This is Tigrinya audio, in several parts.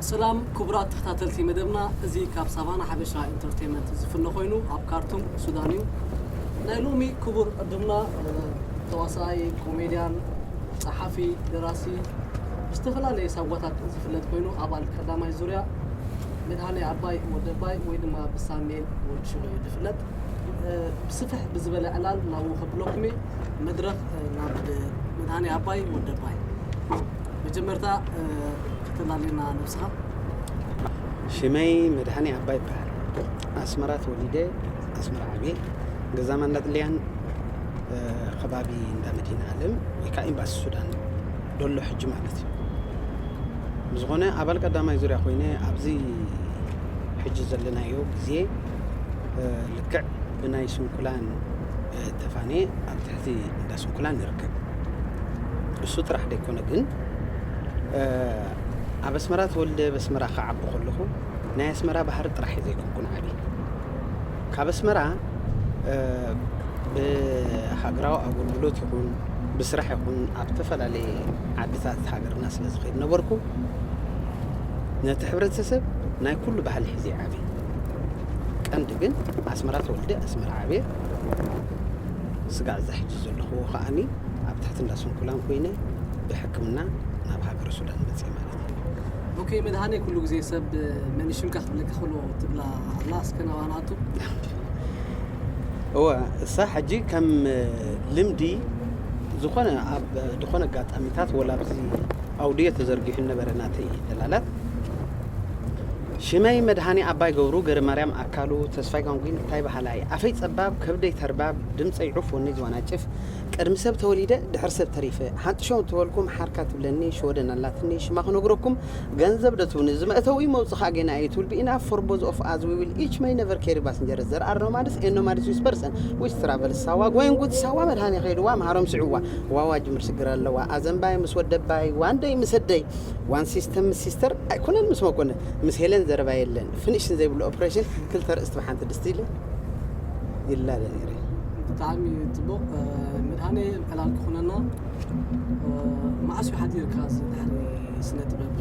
ሰላም ክቡራት ተኸታተልቲ መደብና እዚ ካብ ሳቫና ሓበሻ ኢንተርቴንመንት ዝፍኖ ኮይኑ ኣብ ካርቱም ሱዳን እዩ ናይ ሎሚ ክቡር ዕዱምና ተዋሳኣይ ኮሜድያን ጸሓፊ ደራሲ ብዝተፈላለየ ሳጓታት ዝፍለጥ ኮይኑ ኣባል ቀዳማይ ዙርያ መድሃኔ ዓባይ ወደባይ ወይ ድማ ብሳሜን ወዲ ሽሎ እዩ ዝፍለጥ ብስፍሕ ብዝበለ ዕላል ናብኡ ከብለኩም እየ መድረኽ ናብ መድሃኔ ኣባይ ወዲ ኣባይ መጀመርታ ከተላልየና ነብስኻ። ሽመይ መድሃኔ ኣባይ ይበሃል። ኣስመራ ተወሊደ ኣስመራ ዓብየ። ገዛ ማንዳጥልያን ከባቢ እንዳ መዲና ኣለም ወይ ከዓ ኤምባሲ ሱዳን ዶሎ ሕጂ ማለት እዩ። ብዝኾነ ኣባል ቀዳማይ ዙርያ ኮይነ ኣብዚ ሕጂ ዘለናዮ ግዜ ልክዕ ብናይ ስንኩላን ተፋንየ ኣብ ትሕቲ እንዳ ስንኩላን ይርከብ። እሱ ጥራሕ ደይኮነ ግን ኣብ ኣስመራ ተወልደ ኣብ ኣስመራ ክዓቢ ከለኹ ናይ ኣስመራ ባህሪ ጥራሕ እየ ዘይኮንኩን ዓብየ። ካብ ኣስመራ ብሃገራዊ ኣገልግሎት ይኹን ብስራሕ ይኹን ኣብ ዝተፈላለየ ዓድታት ሃገርና ስለ ዝኸይድ ነበርኩ ነቲ ሕብረተሰብ ናይ ኩሉ ባህሊ ሒዘ እየ ዓብየ። ቀንዲ ግን ኣስመራ ተወልደ ኣስመራ ዓብየ። ስጋዕ እዚ ሕጂ ዘለኹዎ ከዓኒ ኣብ ትሕቲ እንዳ ስንኩላን ኮይነ ብሕክምና ናብ ሃገረ ሱዳን መጽየ ማለት እዩ። ኦኬ መድሃኔ ኩሉ ግዜ ሰብ መን ይሽምካ ክብለካ ከሎ ትብላ ኣላ እስከ ናብኣ ንኣቱ። እወ እሳ ሕጂ ከም ልምዲ ዝኾነ ኣብ ዝኾነ ኣጋጣሚታት ወላ ኣብዚ ኣውድዮ ተዘርጊሑ ነበረ ናተይ ዕላላት ሽመይ መድሃኔ ኣባይ ገብሩ ገረማርያም ኣካሉ ተስፋይ ጋንጉይን እታይ በሃላይ ኣፈይ ጸባብ ከብደይ ተርባብ ድምጸይ ዑፍ ወነይ ዝዋናጭፍ ቅድሚ ሰብ ተወሊደ ድሕሪ ሰብ ተሪፈ ሓንጥሸው እንተበልኩም ሓርካ ትብለኒ ሽወደን ኣላትኒ ሽማ ክነግረኩም ገንዘብ ዶ ትብኒ ዝመእተዊ መውጽ ከኣ ጌና እዩ ትብል ቢኢናፍ ፎር ቦዝ ኦፍ ኣዝ ዊ ዊል ኢች መይ ነቨር ኬሪ ባስንጀርስ ዘር ኣር ኖማድስ ኤን ኖማድስ ዊዝ ፐርሰን ዊች ትራቨልስ ሳዋ ጎይን ጉድ ሳዋ መድሃኔ ከይድዋ መሃሮም ስዕዋ ዋዋ ጅምር ስግር ኣለዋ ኣዘንባይ ምስ ወደባይ ዋንደይ ምስ ኣደይ ዋን ሲስተም ምስ ሲስተር ኣይኮነን ምስ መኮንን ምስ ሄለን ዘረባ የለን ፍንሽን ዘይብሉ ኦፕሬሽን ክልተ ርእስቲ ብሓንቲ ድስቲ ኢለ ይላለ ነይረ ብጣዕሚ ፅቡቕ መድሃኔ ዕላል ክኾነና መዓስ እዩ ሓዲርካ እዚ ድሕሪ ስነ ጥበብ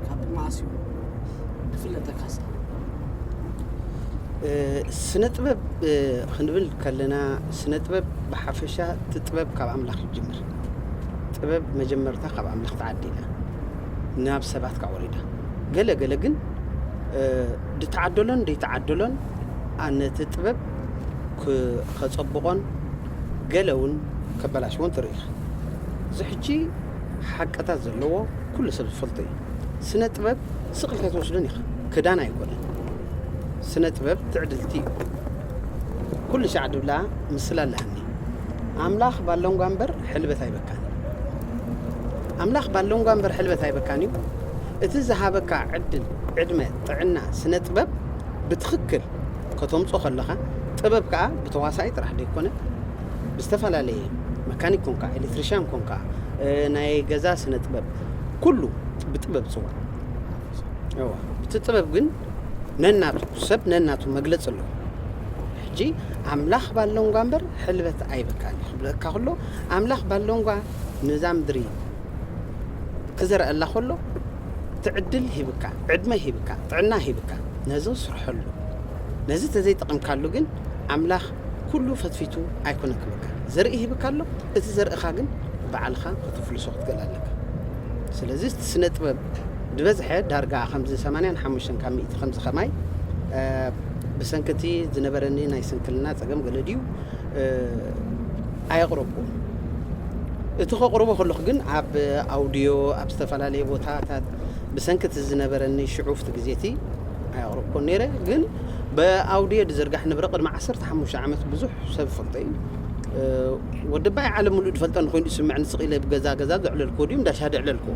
ካብ መዓስ እዩ ክፍለጠካስ ስነ ጥበብ ክንብል ከለና ስነ ጥበብ ብሓፈሻ እቲ ጥበብ ካብ ኣምላኽ ይጅምር ጥበብ መጀመርታ ካብ ኣምላኽ ተዓዲላ ናብ ሰባት ከኣ ወሪዳ ገለ ገለ ግን ድተዓደሎን ደይተዓደሎን ኣነቲ ጥበብ ከጸብቖን ገለ እውን ከበላሽዎን ትርኢ ኢኻ እዚ ሕጂ ሓቅታት ዘለዎ ኩሉ ሰብ ዝፈልጦ እዩ ስነ ጥበብ ስቕ ኢልካ ትወስዶን ኢኻ ክዳን ኣይኮነን ስነ ጥበብ ትዕድልቲ እዩ ኩሉ ሻዕ ድብላ ምስላ ኣለሃኒ ኣምላኽ ባሎንጓ እምበር ሕልበት ኣይበካን ኣምላኽ ባሎንጓ እምበር ሕልበት ኣይበካን እዩ እቲ ዝሃበካ ዕድል ዕድመ ጥዕና ስነ ጥበብ ብትኽክል ከተምጾ ከለኻ ጥበብ ከዓ ብተዋሳኢ ጥራሕ ዘይኮነ ብዝተፈላለየ መካኒክ ኮንካ ኤሌክትሪሽያን ኮንካ ናይ ገዛ ስነ ጥበብ ኩሉ ብጥበብ ጽዋዕ እቲ ጥበብ ግን ነናቱ ሰብ ነናቱ መግለፂ ኣለዎ ሕጂ ኣምላኽ ባሎንጓ እምበር ሕልበት ኣይበካን እዩ ክብለካ ከሎ ኣምላኽ ባሎንጓ ነዛ ምድሪ ክዘርኣላ ከሎ እቲ ዕድል ሂብካ ዕድመ ሂብካ ጥዕና ሂብካ ነዚ ስርሐሉ ነዚ ተዘይጠቐምካሉ ግን ኣምላኽ ኩሉ ፈትፊቱ ኣይኮነ ክብካ ዘርኢ ሂብካ ኣሎ እቲ ዘርእኻ ግን ባዕልኻ ከተፍልሶ ክትገል ኣለካ ስለዚ ስነ ጥበብ ዝበዝሐ ዳርጋ ከምዚ ሰማንያን ሓሙሽተን ካብ ሚእቲ ከምዚ ከማይ ብሰንኪ እቲ ዝነበረኒ ናይ ስንክልና ጸገም ገለ ድዩ ኣየቕረብኩን። እቲ ከቕርቦ ከለኹ ግን ኣብ ኣውድዮ ኣብ ዝተፈላለየ ቦታታት ብሰንኪ እቲ ዝነበረኒ ሽዑፍቲ ግዜ እቲ ኣየቕረብኩን ነይረ። ግን ብኣውድዮ ዝዝርጋሕ ንብረ ቅድሚ ዓሰርተ ሓሙሽተ ዓመት ብዙሕ ሰብ ይፈልጦ እዩ። ወዲ ባይ ዓለም ምሉእ ዝፈልጠኒ ኮይኑ ዝስምዐኒ ስቕ ኢለ ብገዛ ገዛ ዘዕለልኩዎ ድዩ እንዳ ሻሂ ዘዕለልኩዎ?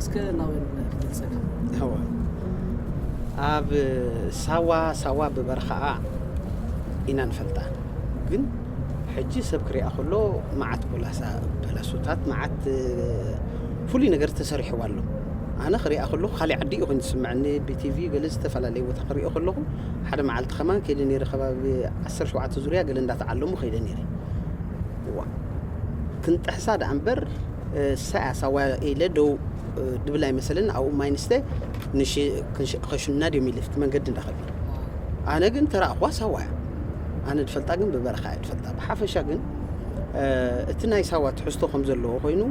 እስከ ናበይ ምኽንያት ክገልጸካ እወ ኣብ ሳዋ ሳዋ ብበረኻኣ ኢና ንፈልጣ ግን ሕጂ ሰብ ክሪኣ ከሎ መዓት ኮላሳ በለሱታት መዓት ፍሉይ ነገር ተሰሪሕዋ ኣሎ ኣነ ክሪኣ ከለኹ ካሊእ ዓዲ እዩ ኮይኑ ዝስምዐኒ ብቲቪ ገለ ዝተፈላለየ ቦታ ክሪኦ ከለኹ ሓደ መዓልቲ ከማን ከይደ ነይረ ከባቢ 17 ዙርያ ገለ እንዳተዓለሙ ከይደ ነይረ እዋ ክንጥሕሳ ደኣ እምበር እሳያስ ኣዋይ ኢለ ደው ድብል ኣይመሰለኒ ኣብኡ ማይ ንስተ ከሽኑና ድዮም ኢለ ፍቲ መንገዲ እንዳኸድና ኣነ ግን ተራእኹዋ ሳዋ እያ ኣነ ድፈልጣ ግን ብበረኻ እያ ድፈልጣ ብሓፈሻ ግን እቲ ናይ ሳዋ ትሕዝቶ ከም ዘለዎ ኮይኑ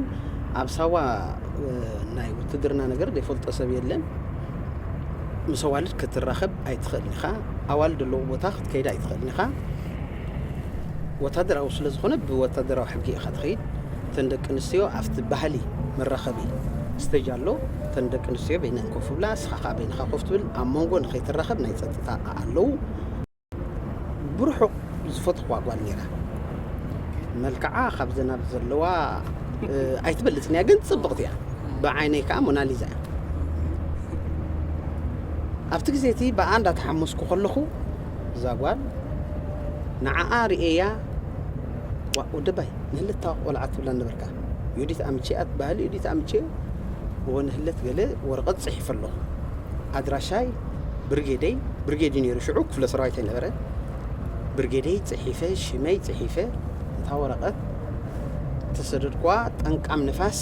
ኣብ ሳዋ ናይ ውትድርና ነገር ዘይፈልጦ ሰብ የለን ምስ ኣዋልድ ክትራኸብ ኣይትኽእልን ኢኻ ኣዋልድ ኣለዎ ቦታ ክትከይድ ኣይትኽእልን ኢኻ ወታደራዊ ስለ ዝኾነ ብወታደራዊ ሕጊ ኢኻ ትኸይድ እተን ደቂ ኣንስትዮ ኣብቲ ባህሊ መራኸቢ ስተጅ ኣሎ እተን ደቂ ኣንስትዮ በይነን ኮፍ ብላ እስኻ ከዓ በይንኻ ኮፍ ትብል ኣብ መንጎ ንኸይትራኸብ ናይ ፀጥታ ኣለው ብርሑቕ ዝፈትኹዋ ጓል ነይራ መልክዓ ካብዘን ኣብ ዘለዋ ኣይትበልፅን እያ ግን ፅብቕቲ እያ ብዓይነይ ከዓ ሞናሊዛ እያ ኣብቲ ግዜ እቲ ብኣ እንዳተሓመስኩ ከለኹ እዛ ጓል ንዓኣ ርእየያ ዋኡ ድባይ ንህልታ ቆልዓ ትብላ ነበርካ ዩዲት ኣምቼኣ ትበሃል ዩዲት ኣምቼ እወ ንህለት ገለ ወረቐት ጽሒፈ ኣለኹ ኣድራሻይ ብርጌደይ ብርጌድ እዩ ነይሩ ሽዑ ክፍለ ሰራዊት ኣይነበረ ብርጌደይ ጽሒፈ ሽመይ ጽሒፈ እታ ወረቐት ተሰደድኳ ጠንቃም ንፋስ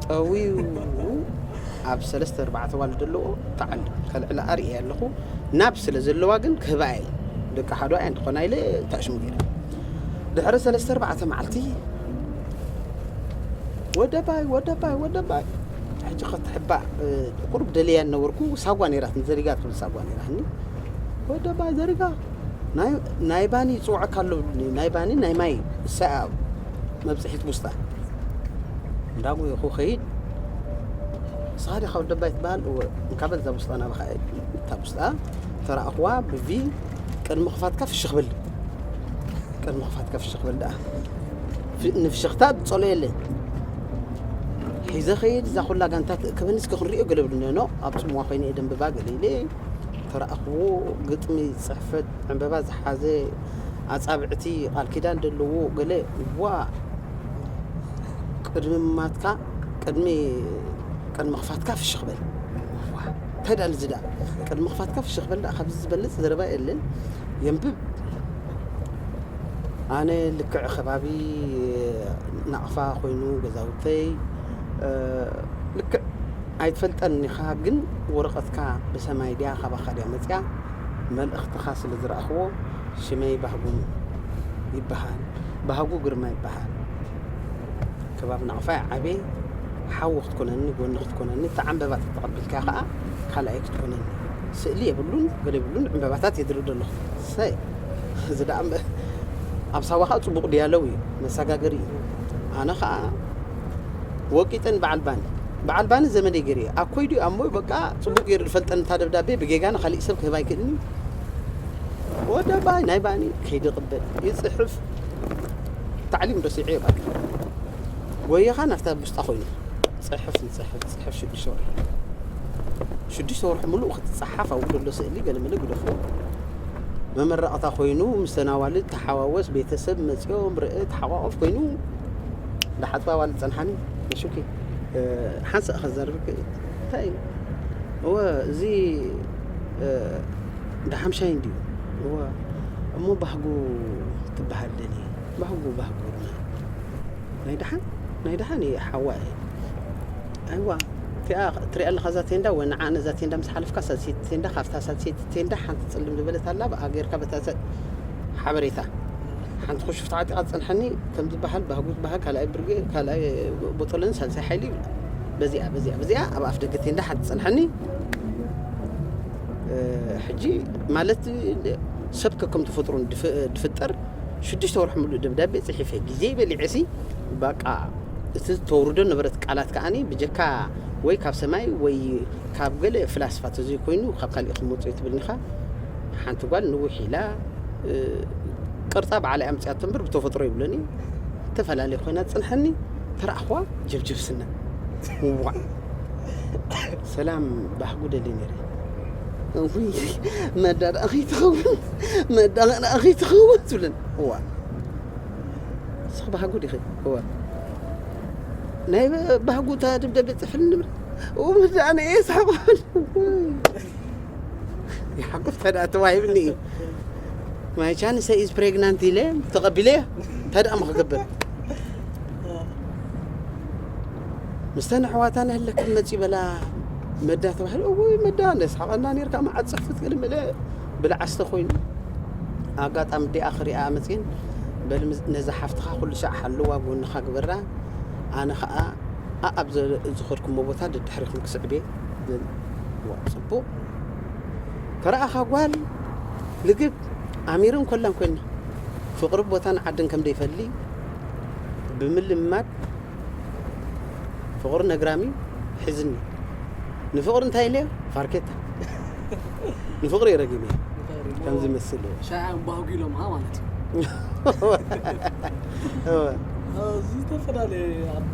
ጠዊው ኣብ ሰለስተ ኣርባዕተ ኣዋልድ ኣለዎ ክዓሉ ከልዕላ ኣርእየ ኣለኹ ናብ ስለ ዘለዋ ግን ክህባ እየ ደቂ ሓዶ ኣየን ትኾና ኢለ ተዕሽሙ ገይረ ድሕሪ ሰለስተ ኣርባዕተ መዓልቲ ወደባይ ወደባይ ወደባይ ሕጂ ክትሕባእ ቁሩብ ደልያ ነበርኩ ሳጓ ነራት ዘሪጋ ትብል ሳጓ ነራኒ ወደባይ ዘሪጋ ናይ ባኒ ይፅውዐካ ኣሎ ናይ ባኒ ናይ ማይ ሰኣ መብጽሒት ቡስጣን እንዳ ጉየኹ ኸይድ ንስኻ ዲኻ ወዲ ኣባይ ትበሃል እወ እንካ በል እዛ ቡስጣ ናባኻ እታ ቡስጣ ተረኣኹዋ ብቪ ቅድሚ ክፋትካ ፍሽኽ በል ቅድሚ ክፋትካ ፍሽኽ በል ደኣ ንፍሽኽታ ትጸሎ የለን ሒዘ ኸይድ እዛ ኩላ ጋንታ ትእክበኒ እስኪ ክንሪኦ ገለ ብድነኖ ኣብ ጽምዋ ኮይነ እየ ደንብባ ገለ ኢለ ተረኣኽዎ ግጥሚ ጽሕፈት ዕንበባ ዝሓዘ ኣጻብዕቲ ቃል ኪዳን ደለዎ ገለ ዋእ ቅድሚ ምማትካ ቅድሚ ቅድሚ ክፋትካ ፍሽኽ በል ዋእ እንታይ ደኣ እዚ ደኣ ቅድሚ ክፋትካ ፍሽኽ በል ደኣ ካብዚ ዝበልጽ ዘረባ የለን የንብብ ኣነ ልክዕ ከባቢ ናቕፋ ኮይኑ ገዛውተይ ልክዕ ኣይትፈልጠን ኢኻ ግን ወረቐትካ ብሰማይ ድያ ካባኻ ድያ መፅያ መልእኽትኻ ስለ ዝረኣኽዎ ሽመይ ባህጉ ይበሃል ባህጉ ግርማ ይበሃል ከባቢ ናቕፋይ ዓበይ ሓዊ ክትኮነኒ ጎኒ ክትኮነኒ እቲ ዕምበባ ተተቐቢልካ ከዓ ካልኣይ ክትኮነኒ ስእሊ የብሉን ገለ የብሉን ዕምበባታት የድርዶ ኣለኹ ሰይ እዚ ደኣ ኣብ ሳዋ ከዓ ፅቡቕ ድያለው እዩ መሰጋገሪ እዩ ኣነ ከዓ ወቂጠን በዓል ባኒ በዓል ባኒ ዘመደይ ገይሩ እየ ኣኮይ ድዩ ኣሞይ በቃ ጽቡቅ ገይሩ ድፈልጠኒ እታ ደብዳቤ ብጌጋ ንካሊእ ሰብ ክህባ ኣይክእልን እዩ ወዲ ኣባይ ናይ ባኒ ከይድቅበል ይጽሕፍ ታዕሊም ረሲዐ እየ ባኒ ጎየኻ ናፍታ ብስጣ ኮይኑ ጽሕፍ ይጽሕፍ ጽሕፍ ሽዱሽተ ወርሒ ሽዱሽተ ወርሒ ምሉእ ክትጸሓፍ ኣብኡ ዘሎ ስእሊ ገለመለ ግደፎ መመረቕታ ኮይኑ ምስ ተናዋልድ ተሓዋወስ ቤተሰብ መጽኦም ርእ ተሓቋቆፍ ኮይኑ ዳሓጽባ ዋል ጸንሓኒ ነሹኪ ሓንሳእ ከዘርብ ክእል እንታይ እዩ እወ እዚ ዳሓምሻይ እንድዩ እወ እሞ ባህጉ ትበሃል ደኒ ባህጉ ባህጉ ድማ ናይ ዳሓን ናይ ዳሓን እየ ሓዋ እየ ኣይዋ እቲኣ ትሪኣ ኣለካ እዛ ቴንዳ ወ ንዓ ነዛ ቴንዳ ምስ ሓለፍካ ሳልሰይቲ ቴንዳ ካብታ ሳልሰይቲ ቴንዳ ሓንቲ ፅልም ዝበለት ኣላ ብኣ ጌርካ በታ ሓበሬታ ሓንቲ ኩሹፍ ተዓጢቓ ትጸንሓኒ ከም ዝበሃል ባህጉ ዝበሃል ካልኣይ ብርጌ ካልኣይ ቦጦሎኒ ሳልሳይ ሓይሊ ይብላ በዚኣ በዚኣ በዚኣ ኣብ ኣፍ ደገ ቴንዳ ሓንቲ ትጸንሓኒ ሕጂ ማለት ሰብ ከከም ተፈጥሮ ድፍጠር ሽዱሽተ ወርሒ ምሉእ ደብዳቤ ጽሒፈ ግዜ በሊዐሲ በቃ እቲ ዝተወርዶ ነበረት ቃላት ከዓኒ ብጀካ ወይ ካብ ሰማይ ወይ ካብ ገለ ፍላስፋ ተዘይኮይኑ ካብ ካልእ ክመጽኡ ትብልኒኻ ሓንቲ ጓል ንውሕ ኢላ ቅርጻ ባዕላይ ኣምጺኣቶ እምበር ብተፈጥሮ ይብለኒ እተፈላለየ ኮይና ጽንሐኒ ተረኣኽዋ ጀብጀብስና ውዋእ ሰላም ባህጉ ደሊ ነይረ መዳ ደኣ ከይትኸውን መዳ ደኣ ከይትኸውን ትብለን እዋ ንስኺ ባህጉ ዲኺ እዋ ናይ ባህጉ እታ ደብዳቤ ፅሕፍልኒ ንብል እው መዳ ኣነ እየ ስሓቕን ይሓቁፍ ተደኣ ተዋሂብኒ እዩ ማይ ቻንሰ ኢዝ ፕሬግናንት ኢለ ተቐቢለ ተደኣ ምክገብር ምስተን ኣሕዋታ ንህለክ መፂ በላ መዳ ተባሂሉ እውይ መዳ ነስሓቐና ነርካ መዓት ፅፍት ቅድሚ ኢለ ብልዓስተ ኮይኑ ኣጋጣሚ ዲኣ ክሪኣ መፅን በል ነዛ ሓፍትኻ ኩሉ ሰዕ ሓለዋ ጎንኻ ግበራ ኣነ ከዓ ኣኣብ ዝኸድኩሞ ቦታ ደድሕሪኹም ክስዕብ እየ ብል ዋእ ጽቡቅ ተራኣኻ ጓል ልግብ ኣሚርን ኮላን ኮይና ፍቅሪ ቦታን ዓድን ከም ደይፈሊ ብምልማድ ፍቅሪ ነግራሚ ሒዝኒ ንፍቅሪ እንታይ ኢለዮ ፋርኬታ ንፍቅሪ እየ ረጊመ ከም ዝመስል እየ ሻያ ባህጉሎም ኣ ማለት እዩ እወ እዚ ዝተፈላለየ ኣብ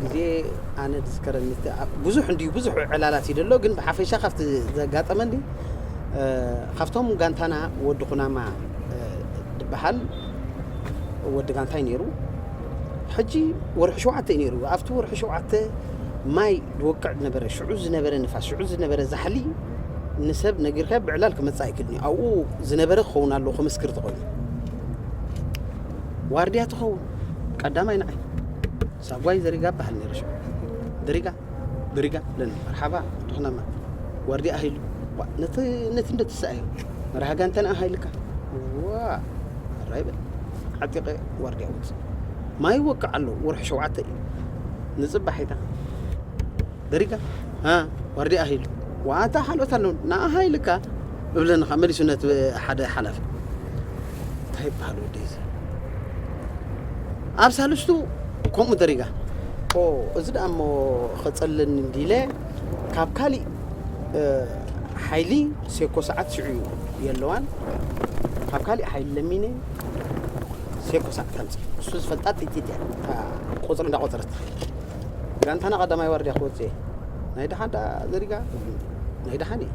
ግዜ ኣነ ዝዝከረኒ እቲ ብዙሕ እንድዩ ብዙሕ ዕላላት እዩ ዘሎ ግን ብሓፈሻ ካብቲ ዘጋጠመኒ ካብቶም ጋንታና ወዲ ኩናማ ድበሃል ወዲ ጋንታይ ነይሩ ሕጂ ወርሒ ሸውዓተ እዩ ነይሩ ኣብቲ ወርሒ ሸውዓተ ማይ ድወቅዕ ነበረ ሽዑ ዝነበረ ንፋስ ሽዑ ዝነበረ ዛሕሊ ንሰብ ነጊርካ ብዕላል ክመፅእ ኣይክልን እዩ ኣብኡ ዝነበረ ክኸውን ኣለዎ ክምስክር ተኮይኑ ዋርድያ ትኸውን ቀዳማይ ንዓይ ሳጓይ ዘሪጋ በሃል ነይረ ሽዑ ድሪጋ ድሪጋ ለን መርሓባ ድኽናማ ዋርዲያ ሃይሉ ነቲ ነቲ እንደ ትስኣዮ መርሃ ጋንተና ሃይልካ ዋ ራይ በል ዓጢቐ ዋርዲያ ውፅ ማይ ይወቅዕ ኣሎ ወርሒ ሸውዓተ እዩ ንፅባሕ ይታ ደሪጋ ዋርዲያ ሃይሉ ዋታ ካልኦት ኣለዉ ንኣ ሃይልካ እብለንኻ መሊሱ ነቲ ሓደ ሓላፊ እንታይ ይበሃል ወደይ ኣብ ሳልስቱ ከምኡ ደሪጋ ኦ እዚ ደኣ እሞ ኸጸለኒ እንዲለ ካብ ካሊእ ሓይሊ ሴኮ ሰዓት ሽዑ የለዋን ካብ ካሊእ ሓይሊ ለሚነ ሴኮ ሰዓት ከምፅ እሱ ዝፈልጣ ጥይት እያ ቁፅሪ እንዳቆፀረት ትኸይድ ጋንታና ቀዳማይ ዋርድያ ክወፅ እየ ናይ ድሓን ዳ ዘሪጋ ናይ ድሓን እዩ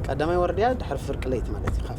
ቀዳማይ ዋርድያ ድሕሪ ፍርቂ ለይቲ ማለት እዩ ካብ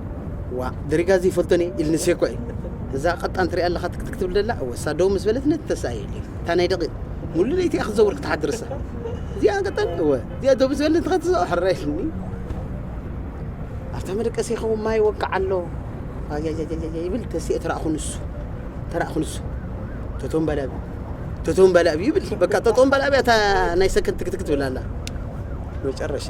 ዋእ ደሪጋ እዚ ይፈልጦን እየ ኢልኒ ሴኳ እዩ እዛ ቀጣን ትሪኣ ኣለኻ ትክትክ ትብል ደላ እወ እሳ ደው ምስ በለት ነቲ ተሳእየ እየ እታ ናይ ደቂቅ ሙሉ ለይቲ እያ ክትዘውር ክትሓድር እሳ እዚኣ ቀጣን እወ እዚኣ ደው ምስ በለት ንኸትዘው ሕራ ኢልኒ ኣብታ መደቀሲ ይኸውን ማይ ወቃዕ ኣሎ ኣያያያያ ይብል ተሲኤ ተራእኹ ንሱ ተራእኹ ንሱ ተቶም በላብ ተቶም በላብ ይብል በቃ ተቶም በላብ እያ እታ ናይ ሰከንድ ትክትክ ትብል ኣላ መጨረሻ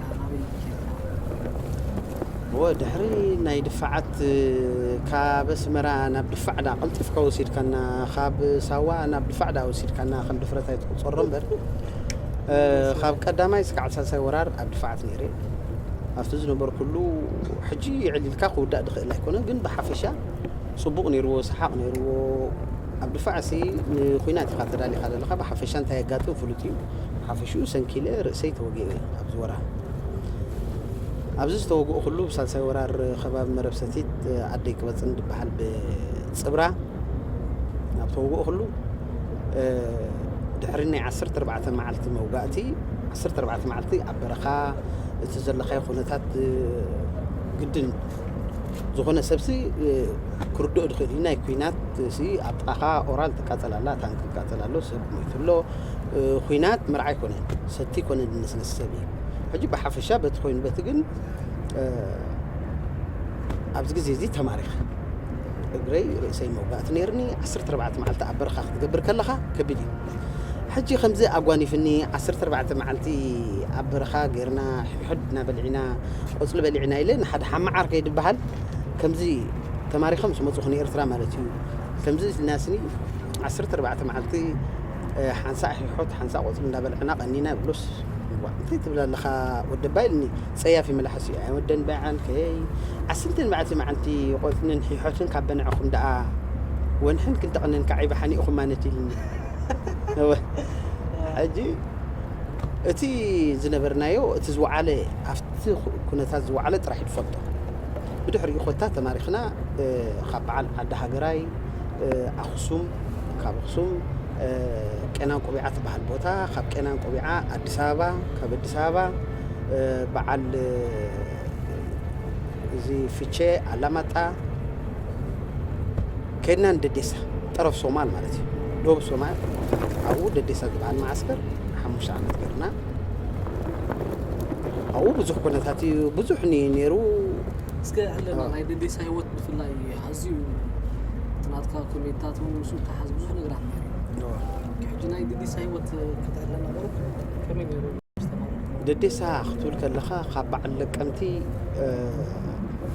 እወ ድሕሪ ናይ ድፋዓት ካብ ኣስመራ ናብ ድፋዕዳ ቀልጢፍካ ወሲድካና ካብ ሳዋ ናብ ድፋዕዳ ወሲድካና ከም ድፍረት ኣይትቁጸሮ እምበር ካብ ቀዳማይ ስካዕ ሳልሳይ ወራር ኣብ ድፋዓት ነይረ ኣብቲ ዝነበርኩሉ ሕጂ ይዕሊልካ ክውዳእ ድኽእል ኣይኮነን ግን ብሓፈሻ ጽቡቕ ነይርዎ ሰሓቕ ነይርዎ ኣብ ድፋዕሲ ንኩናት ኢኻ ተዳሊኻ ዘለኻ ብሓፈሻ እንታይ የጋጥም ፍሉጥ እዩ ብሓፈሽኡ ሰንኪለ ርእሰይ ተወጊኤ እየ ኣብዚ ወራር። ኣብዚ ዝተወግእኹሉ ብሳልሳይ ወራር ከባቢ መረብ ሰቲት ዓደይ ቅበጽን ድበሃል ብጽብራ ኣብ ተወግእኹሉ ድሕሪ ናይ ዓሰርተ ኣርባዕተ መዓልቲ መውጋእቲ ዓሰርተ ኣርባዕተ መዓልቲ ኣብ በረኻ እቲ ዘለኻዮ ኩነታት ግድን ዝኾነ ሰብሲ ክርድኦ ድኽእል እዩ። ናይ ኩናት ሲ ኣብ ጥቓኻ ኦራል ትቃጸል ኣላ፣ ታንክ ይቃጸል ኣሎ፣ ሰብ ሞይቱ ኣሎ፣ ኹናት መርዓ ኣይኮነን ሰቲ ኮነ ድነስነስ ሰብ እዩ ሕጂ ብሓፈሻ በቲ ኮይኑ በቲ ግን ኣብዚ ግዜ እዚ ተማሪኸ እግረይ ርእሰይ መውጋእቲ ነይርኒ 14 መዓልቲ ኣብ በረኻ ክትገብር ከለኻ ከቢድ እዩ ሕጂ ከምዚ ኣጓኒፍኒ 14 መዓልቲ ኣብ በረኻ ጌርና ሕድሕድና በልዒና ቆፅሊ በሊዕና ኢለ ንሓደ ሓመዓር ከይድበሃል ከምዚ ተማሪኸ ምስ መፁኹ ንኤርትራ ማለት እዩ ከምዚ ኢልናስኒ 14 መዓልቲ ሓንሳዕ ሒሖት ሓንሳዕ ቆጽሊ እንዳበልዕና ቀኒና ይብሉስ ዋእ እንታይ ትብል ኣለኻ ወዲ ኣባ ኢልኒ ጸያፊ መላሕሱ እዩ ኣይወደን በዓልከይ ዓስንትን መዓልቲ መዓንቲ ቆጽንን ሒሖትን ካብ በንዕኹም ደኣ ወንሕን ክንተቕንን ካዕ ይብሓኒ ኢኹም ማነት ኢልኒ እወ ሕጂ እቲ ዝነበርናዮ እቲ ዝወዓለ ኣብቲ ኩነታት ዝወዓለ ጥራሕ እዩ ዝፈልጦ ብድሕሪኡ ኮታ ተማሪኽና ካብ በዓል ዓዲ ሃገራይ ኣክሱም ካብ ኣክሱም ቄና ቆቢዓ ትበሃል ቦታ ካብ ቄና ቆቢዓ ኣዲስ ኣበባ ካብ ኣዲስ ኣበባ በዓል እዚ ፍቼ ኣላማጣ ከድና ንደዴሳ ጠረፍ ሶማል ማለት እዩ ዶብ ሶማል ኣብኡ ደዴሳ ዝበሃል መዓስከር ሓሙሽተ ዓመት ገርና ኣብኡ ብዙሕ ኩነታት እዩ ብዙሕ ነይሩ እስከ ኣለና ናይ ደዴሳ ህይወት ብፍላይ ኣዝዩ እቲ ናትካ ኮሜድታት እውን ምስኡ ዝተሓሓዝ ብዙሕ ነገራት እኒሀዎ። ሕጂ ናይ ድዲሳ ህይወት ክትዕለ ነበሩ ከመይ ነይሩ ዝተማረኹ? ደዴሳ ክትብል ከለኻ ካብ በዓል ለቀምቲ እ፣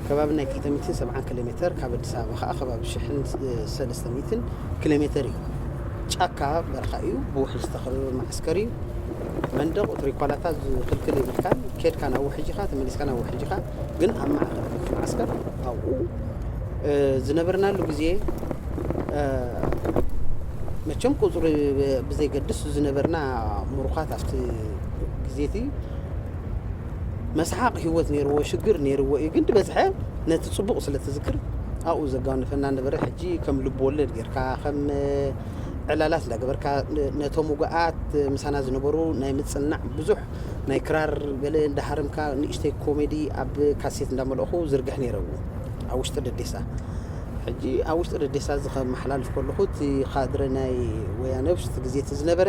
ከባቢ ናይ 270 ኪሎ ሜተር ካብ ኣዲስ ኣበባ ከዓ ከባቢ ሽሕን እ፣ ሰለስተ ሚእትን ኪሎ ሜተር እዩ ጫካ በረኻ እዩ ብውሕጅ ዝተኸበበ መዓስከር እዩ መንደቑ ትሪኳላታት ዝኽልክል የብልካን ኬድካ ናብ ውሕጅ ኢኻ ተመሊስካ ናብ ውሕጅ ኢኻ ግን ኣብ ማእከል እቲ መዓስከር ኣብኡ ዝነበርናሉ ግዜ መቸም ቁጽሪ ብዘይገድስ ዝነበርና ምሩኻት ኣብቲ ግዜ እቲ መስሓቕ ህይወት ነይርዎ ሽግር ነይርዎ እዩ ግን ድበዝሐ ነቲ ጽቡቕ ስለ ትዝክር ኣብኡ ዘጋንፈና ነበረ ሕጂ ከም ልብ ወለድ ጌርካ ከም ዕላላት እንዳገበርካ ነቶም ውጉኣት ምሳና ዝነበሩ ናይ ምጽናዕ ብዙሕ ናይ ክራር ገለ እንዳ ሃረምካ ንእሽተይ ኮሜዲ ኣብ ካሴት እንዳ መልእኹ ዝርግሕ ኔረ ኣብ ውሽጢ ደዴሳ ሕጂ ኣብ ውሽጢ ደዴሳ እዚ ከመሓላልፍ ከለኹ እቲ ካድረ ናይ ወያነ ውሽጢ ግዜ እቲ ዝነበረ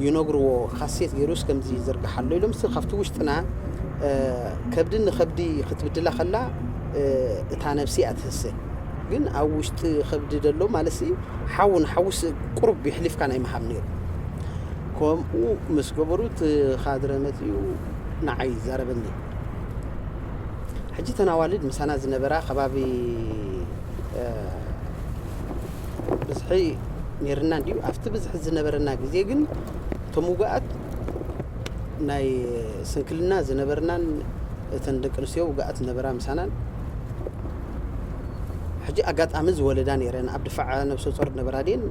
ይነግርዎ ካሴት ጌሩስ ከምዚ ይዝርግሕ ኣሎ ኢሎም ስ ካብቲ ውሽጥና ከብዲ ንከብዲ ክትብድላ ከላ እታ ነብሲ እያ ትህሰ ግን ኣብ ውሽጢ ከብዲ ደሎ ማለት ሲ ሓው ንሓውስ ቁሩብ የሕሊፍካ ናይ ምሃብ ኔሩ ከምኡ ምስ ገበሩ እቲ ኻድረ መጺኡ ንዓይ ይዛረበኒ። ሕጂ እተን ኣዋልድ ምሳና ዝነበራ ከባቢ ብዝሒ ነይርና እንድዩ። ኣብቲ ብዝሒ ዝነበረና ግዜ ግን እቶም ውጉኣት ናይ ስንክልና ዝነበርናን እተን ደቂ ኣንስትዮ ውጉኣት ዝነበራ ምሳናን ሕጂ ኣጋጣሚ ዝወለዳ ነይረን ኣብ ድፋዕ ነብሰ ጾር ነበራ ድየን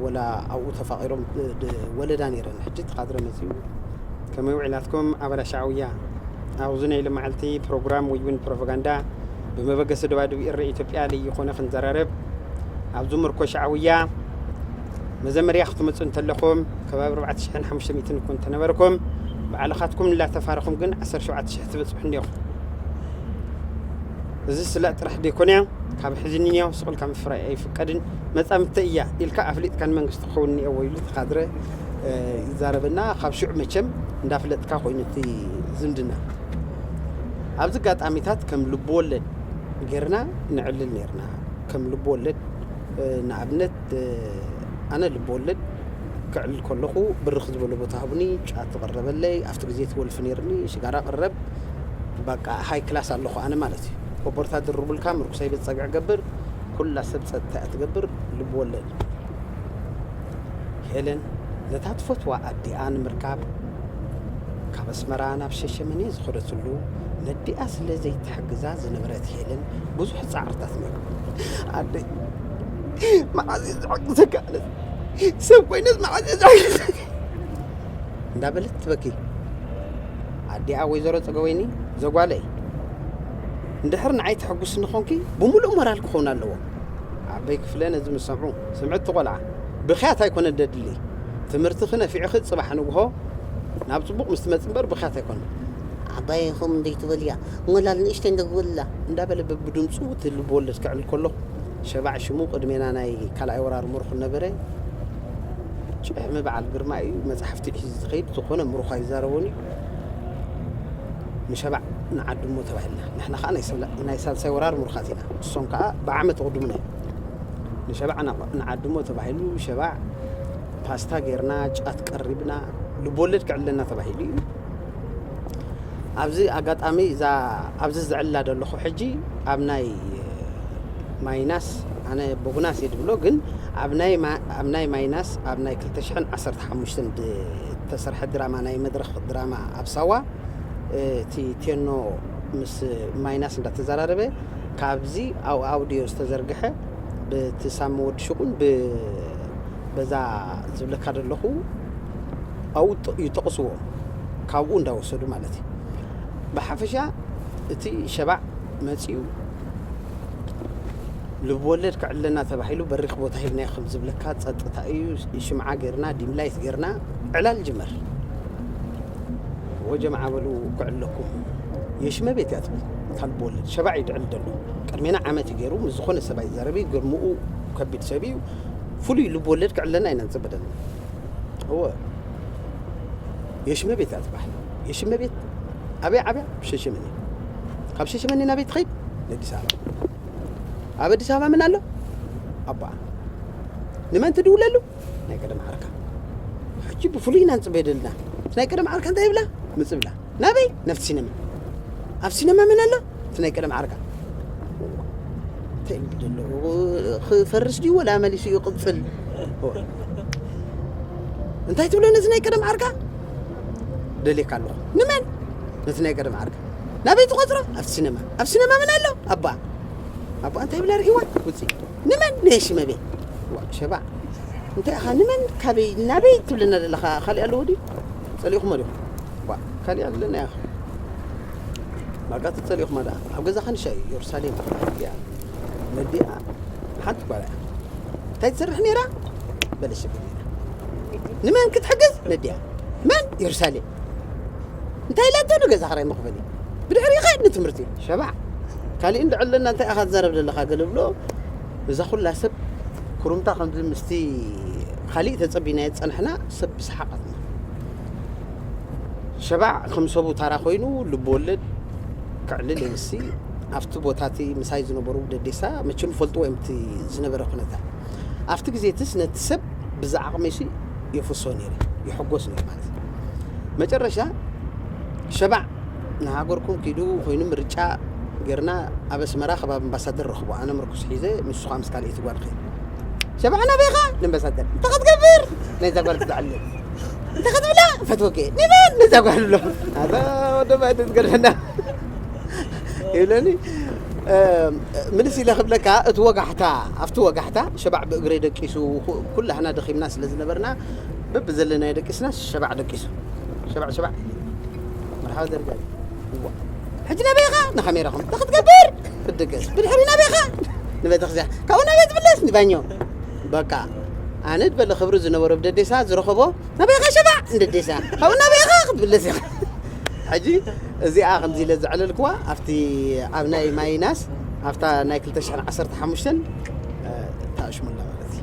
ወላ ኣብኡ ተፋቒሮም ወለዳ ነይረን ሕጂ ተኻድረ መጺኡ ከመይ ውዒላትኩም ኣባላ ሻዕውያ ኣብዚ ናይ ልማዓልቲ ፕሮግራም ወይ እውን ፕሮፓጋንዳ ብመበገሲ ደባድብ ኤረ ኢትዮጵያ ለይኾነ ክንዘራረብ ኣብዚ ምርኮ ሻዕውያ መዘመርያ ክትመፁ እንተለኹም ከባቢ 4500 እኮ እንተነበርኩም ባዕልኻትኩም እናተፋረኹም ግን 17000 ትበፅሑ እኒኹም እዚ ስላእ ጥራሕ ደይኮነያ ካብ ሕዚ ንንያው ሱቅ ኢልካ ምፍራይ ኣይፍቀድን መጻምድተይ እያ ኢልካ ኣፍሊጥካ ንመንግስቲ ክኸውን እኒኤዎ ኢሉ እቲ ካድረ ይዛረብ እና ካብ ሽዑ መቸም እንዳፍለጥካ ኮይኑ እቲ ዝምድና ኣብዚ ኣጋጣሚታት ከም ልብወለድ ጌርና ነዕልል ኔርና ከም ልብወለድ ንኣብነት ኣነ ልብወለድ ከዕልል ከለኹ ብርኽ ዝበለ ቦታ ሃቡኒ፣ ጫት ቐረበለይ፣ ኣብቲ ግዜ እቲ ወልፊ ነይርኒ፣ ሽጋራ ቐረብ፣ ባቃ ሃይ ክላስ ኣለኹ ኣነ ማለት እዩ። ኮቦርታ ድርቡልካ ምርኩሰይ ቤት ጸግዒ ገብር፣ ኩላ ሰብ ጸጥታ እያ ትገብር፣ ልቢ ወለድ። ሄለን ነታ ትፈትዋ ኣዲኣ ንምርካብ ካብ ኣስመራ ናብ ሸሸመኔ ዝኸደትሉ ነዲኣ ስለ ዘይትሕግዛ ዝነበረት ሄለን ብዙሕ ጻዕርታት ነይሩ። ኣደይ መዓዝ እየ ዝሕግዘካ ኣነስ ሰብ ኮይነስ መዓዝ እንዳበለት ትበኪ ኣዲኣ ወይዘሮ ፀገወይኒ ዘጓለይ እንድሕር ንዓይ ተሐጉስኒ ኮንኪ ብምሉእ ሞራል ክኸውን ኣለዎ ኣበይ ክፍለ ነዚ ምስ ሰምዑ ስምዕቲ ቆልዓ ብክያት ኣይኮነ ደድሊ ትምህርትኺ ነፊዕኺ ፅባሕ ንግሆ ናብ ፅቡቕ ምስ ትመፅ እምበር ብክያት ኣይኮነ ዓባይኹም እንደይትበልያ ሞላል ንእሽተይ እንደግበላ እንዳበለ በብድምፁ እቲ ልብወለድ ክዕል ከሎ ሸባዕ ሽሙ ቅድሜና ናይ ካልኣይ ወራር ምሩኽ ነበረ። ጭሕሚ በዓል ግርማ እዩ። መጻሕፍቲ ሒዙ ዝኸይድ ዝኾነ ምሩኽ ኣይዛረቦን እዩ። ንሸባዕ ንዓዱ እሞ ተባሂልና። ንሕና ከኣ ናይ ሳልሳይ ወራር ምሩኻት ኢና። ንሶም ከኣ ብዓመት ይቕድሙና እዮም። ንሸባዕ ንዓዱ እሞ ተባሂሉ ሸባዕ ፓስታ ጌርና፣ ጫት ቀሪብና፣ ልብወለድ ክዕለና ተባሂሉ እዩ። ኣብዚ ኣጋጣሚ እዛ ኣብዚ ዝዕላ ዘለኹ ሕጂ ኣብ ናይ ማይናስ ኣነ ቦግናስ እየ ድብሎ ግን ኣብ ናይ ማይናስ ኣብ ናይ 215 ዝተሰርሐ ድራማ ናይ መድረኽ ድራማ ኣብ ሳዋ እቲ ቴኖ ምስ ማይናስ እንዳተዘራረበ ካብዚ ኣብ ኣውዲዮ ዝተዘርግሐ ብቲ ሳሚ ወዲ ሽቁን በዛ ዝብለካ ዘለኹ ኣብኡ ይጠቕስዎ ካብኡ እንዳወሰዱ ማለት እዩ ብሓፈሻ እቲ ሸባዕ መፂኡ ልብወለድ ክዕለና ተባሂሉ በሪኽ ቦታ ሂብናዮ ከም ዝብለካ ፀጥታ እዩ ሽምዓ ገርና ዲምላይት ገርና ዕላል ጅመር ወጀምዓ በሉ ክዕለኩም የሽመ ቤት እያ ትብል እታ ልብወለድ ሸባዕ እዩ ድዕል ደሎ ቅድሜና ዓመት እዩ ገይሩ ምስ ዝኾነ ሰብኣይ ዘረቢ ግርምኡ ከቢድ ሰብ እዩ ፍሉይ ልብወለድ ክዕለና ኢና ንፅበ ደለና እወ የሽመ ቤት እያ ትበሃል የሽመ ቤት ኣበይ ዓብያ ሸሸመኔ ካብ ሸሸመኔ ናበይ ትኸይድ ንኣዲስ ኣበባ ኣብ ኣዲስ ኣበባ ምን ኣሎ ኣቦኣ ንመን ትድውለሉ ናይ ቀደም ዓርካ ሕጂ ብፍሉይ ኢና ንፅበ ደልና ናይ ቀደም ዓርካ እንታይ ይብላ ምፅብላ ናበይ ናብቲ ሲነማ ኣብ ሲነማ ምን ኣሎ እቲ ናይ ቀደም ዓርካ እንታይ ይብል ደለኹ ክፈርስ ድዩ ወላ መሊሱ ይቕፅል እንታይ ትብሎ ነዚ ናይ ቀደም ዓርካ ደልየካ ኣለኹ ንመን ነቲ ናይ ቀደም ዓርካ ናበይ ትቆፅሮ ኣብ ሲነማ ኣብ ሲነማ ምን ኣሎ ኣባ ኣባ እንታይ ብላ ርኢዋ ውፅኢ ንመን ነየሺ መቤ ሸባ እንታይ ኢኻ ንመን ካበይ ናበይ ትብለና ዘለኻ ካሊእ ኣለዎ ድዩ ፀሊእኹሞ ዲኹም ካሊእ ኣለና ኢኻ ማጋ ተጸሊእኹማ ደኣ ኣብ ገዛ ካንሻ እዩ ዮርሳሌም ኣዲኣ ነዲኣ ሓንቲ ጓላ እያ እንታይ ትሰርሕ ነይራ በለ ሽግር ንመን ክትሕግዝ ነዲኣ መን ዮርሳሌም እንታይ ኢላቶ ንገዛ ክራይ መኽፈሊ ብድሕሪ ይኸድ ንትምህርቲ ሸባዕ ካልእ እንድዕ ኣለና እንታይ ኢኻ ትዛረብ ዘለኻ ገለ ብሎ እዛ ኩላ ሰብ ኩሩምታ ከምዚ ምስቲ ካልእ ተጸቢናዮ ዝጸናሕና ሰብ ብሰሓቓትና ሸባዕ ከም ሰቡ ታራ ኮይኑ ልብ ወለድ ከዕልል እየ ምስቲ ኣብቲ ቦታ እቲ ምሳይ ዝነበሩ ደዴሳ መቸም ይፈልጥዎ እዮም እቲ ዝነበረ ኩነታት ኣብቲ ግዜ እትስ ነቲ ሰብ ብዝዓቕመይሲ የፍሶ ነይረ ይሕጎስ ነይረ ማለት እዩ መጨረሻ ሸባዕ ንሃገርኩም ኪዱ ኮይኑ ምርጫ ጌርና ኣብ ኣስመራ ከባቢ ኣምባሳደር ረኽቦ ኣነ ምርኩስ ሒዘ ንሱ ከዓ ምስ ካልኣይቲ ጓል ኸይዱ ሸባዕ ናበይኻ ንኣምባሳደር እንታይ ክትገብር ናይዛ ጓል ክትዕልል እንታይ ክትብላ ፈትወኪ ንበል ነዛ ጓል ብሎ ኣዛ ወደ ባይቲ ዝገድሐና ይብለኒ ምልስ ኢለ ክብለካ እቲ ወጋሕታ ኣብቲ ወጋሕታ ሸባዕ ብእግረይ ደቂሱ ኩላህና ደኺምና ስለ ዝነበርና በብዘለናዮ ደቂስና ሸባዕ ደቂሱ ሸባዕ ሸባዕ መርሓባ ዘርጋ ሕጂ ናበይ ኢኻ ንካሜራኹም እንታይ ክትገብር ክትድቅስ ብድሕሪ ናበይ ኢኻ ንቤተክርስትያን ካብኡ ናበይ ትምለስ ንባኞ በቃ ኣነ ድበለ ክብሪ ዝነበሮ ብደዴሳ ዝረኸቦ ናበይ ኢኻ ሸፋዕ ንደዴሳ ካብኡ ናበይ ኢኻ ክትብለስ ኢኻ ሕጂ እዚኣ ከምዚ ኢለ ዘዕለልክዋ ኣብቲ ኣብ ናይ ማይናስ ኣብታ ናይ 215 ታኣሽሙላ ማለት እዩ